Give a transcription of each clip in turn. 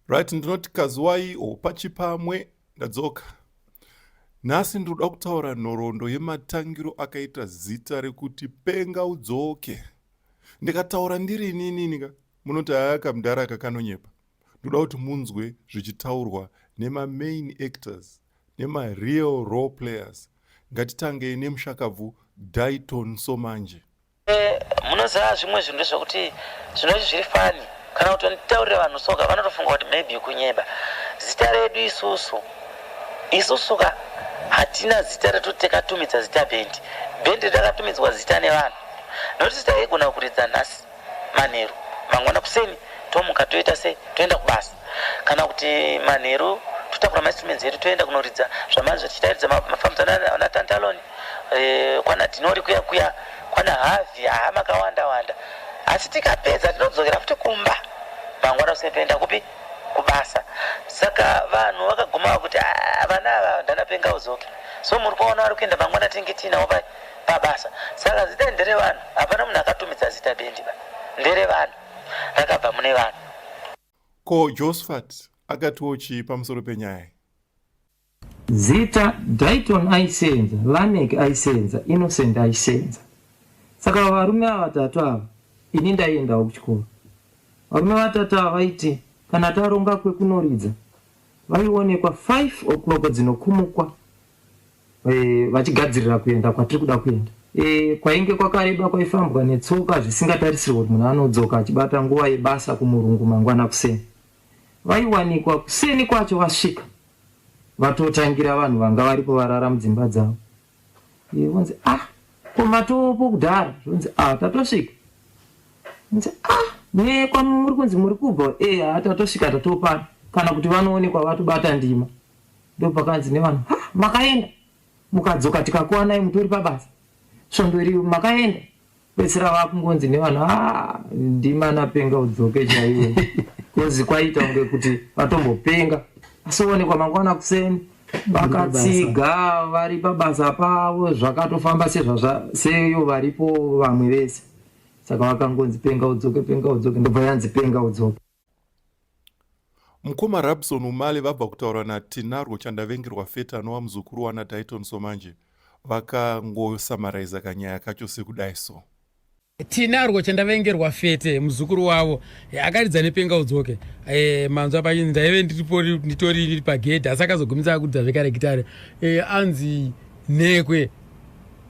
right ndinoti kazuwai o pachipamwe ndadzoka nhasi ndinoda kutaura nhoroondo yematangiro akaita zita rekuti penga udzoke ndikataura ndiri inininika munoti haya kamdhara kakanonyepa ndoda kuti munzwe zvichitaurwa nemamain actors nemareal role players ngatitangei nemushakabvu daiton somanje Munoziva zvimwe zvinhu ndezvekuti zvinoti zviri fani kana kuti nditaurire vanhu soka vanotofunga kuti maybe kunyeba zita redu isusu isusu ka hatina zita retoti takatumidza zita bendi bendi takatumidzwa zita nevanhu nokuti zita igona kuridza nhasi manheru mangwana kuseni tomuka toita se toenda kubasa kana kuti manheru totakura mainstruments edu toenda kunoridza zvamanzi zvatichitaridza mafambidzana natantaloni kwana Dhinori kuya kuya kwana Havi haa makawanda wanda asi tikapedza tinodzokera futi kumba mangwana usime toenda kupi kubasa saka vanhu vakaguma vakuti "Ah, vana ava ndanapenga udzoke so muri kuona vari kuenda mangwana tinenge tiinawo pa- pabasa saka zita ndere vanhu hapana munhu akatumidza zita bendi ba ndere vanhu rakabva mune vanhu Ko Josphat akatiwo chii pamusoro penyaya iyi? Zita, Dayton aiseenza, Lameck aiseenza, Innocent aiseenza. Saka varume ava vatatu ava ini ndaiendawo kuchikoro. Varume vatatu ava vaiti kana taronga kwekunoridza vaionekwa five o'clock dzinokumukwa eh, vachigadzirira kuenda kwatiri kuda kuenda. Eh, kwainge kwakareba kwaifambwa netsoka zvisingatarisirwe kuti munhu anodzoka achibata nguva yebasa kumurungu mangwana kuseni. Vaiwanikwa kuseni kwacho vasvika. Vatotangira vanhu vanga varipo varara mudzimba dzavo. Iye vonzi ah ko matopo kudhara zvonzi ah tatosvika. Nzi ah ne kwamuri kunzi muri kubva eh ah tatosvika tatopana kana kuti vanoonekwa vatobata ndima. Ndopakanzi nevanhu ha makaenda mukadzoka tikakuwanai mutori pabasa. Svondo iri makaenda Pedzisira vakungonzi nevanhu ah ndimana penga udzoke chaiwe. Kozi kwaita kunge kuti vatombopenga. Asi oonekwa mangwana kuseni vakatsiga vari pabasa pavo zvakatofamba sezvazva seyo varipo vamwe vese. Saka vakangonzi penga udzoke penga udzoke ndobva yanzi penga udzoke. Mukoma Rabson Umale vabva kutaura naTinarwo Chandavengerwa Fete anova muzukuru wana Dayton Somanje vakangosamaraiza kanyaya kacho sekudai so. Tinarwo Chandavengerwa Fete muzukuru wavo eh, akaridza nepenga udzoke eh, manzwa pachinzi ndaive nditori pagedhi asi akazogumisa akudza zvekare gitare eh, anzi nhekwe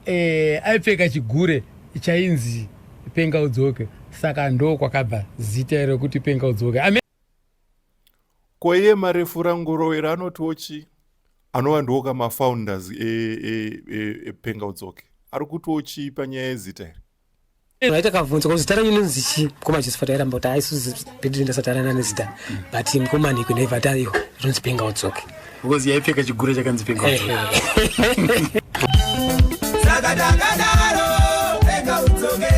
eh, aipfeka chigure chainzi penga udzoke saka ndo kwakabva zita iro kuti penga udzoke Amen. koiye marefu rangurowera anotiwo chii anova ndiwo kamafounders epenga e, e, e, udzoke ari kutiwo chii panyaya yezita iri Aita kavhunza kuti zita renyu linonzi chii mukoma Josephat airamba kuti haisuzi bedri ndasatarana nezita but mukoma Niko never tayo rinonzi penga udzoke because yaipfeka chigure chakanzi penga udzoke Saka takadaro penga udzoke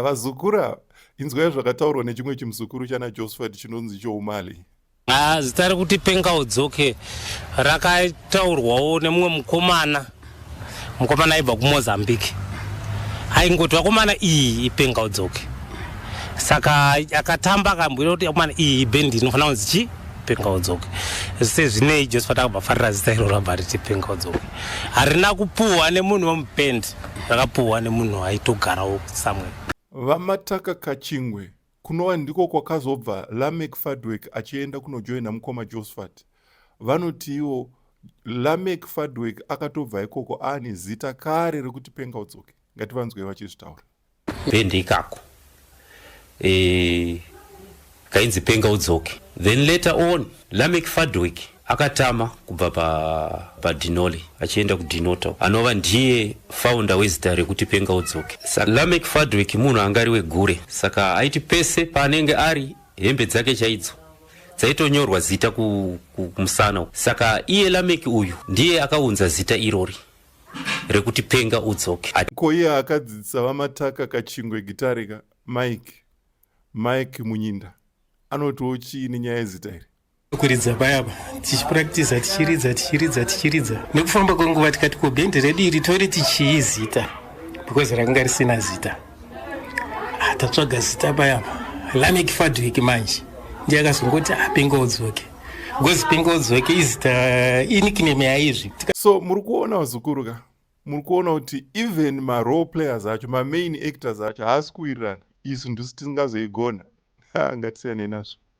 Vazukura inzwai zvakataurwa nechimwe chimuzukuru chana Josephat chinonzi choumali Ah, zita rekuti penga udzoke rakataurwawo nemumwe mukomana mukomana aibva kumozambique aingoti vakomana iyi ipenga udzoke saka akatamba akambwira kuti akomana iyi ibhendi inofanira kunzi chii penga udzoke sezvinei joseph takabva farira zita iro rabva riti penga udzoke harina kupuhwa nemunhu wemubendi rakapuhwa nemunhu aitogarawo samwe vamataka kachingwe Kunova ndiko kwakazobva Lameck Fadweck achienda kunojoina mukoma Josphat. Vanoti ivo Lameck Fadweck akatobva ikoko aane zita kare rekuti Penga Udzoke. Ngativanzwei vachizvitaura. Band ikako. Eh kainzi Penga Udzoke. Then later on Lameck Fadweck akatama kubva padinoli pa achienda kudinoto anova ndiye faunda wezita rekuti penga udzoke saka lamek fadwek munhu anga ari wegure saka aiti pese paanenge ari hembe dzake chaidzo dzaitonyorwa zita kumusana ku, saka iye lamek uyu ndiye akaunza zita irori rekuti penga udzoke ko iye akadzidzisa vamataka kachingwe gitarika mike mike munyinda anotiwo chii nenyaya yezita iri kuridza payapa tichipractisa tichiridza tichiridza tichiridza nekufamba kwenguva tikati ko bhendi redu iri toriti chii zita because rakanga risina zita ah, tatsvaga zita payapa lamek fadwik manje ndiye akazongoti apenga ah, udzoke because penga udzoke izita eh, inikname yaizvi so muri kuona vazukuru ka muri kuona kuti even marole players acho mamain actors acho haasi kuwirirana isu ndisu tisingazoigona ah, ngatisiyane nazvo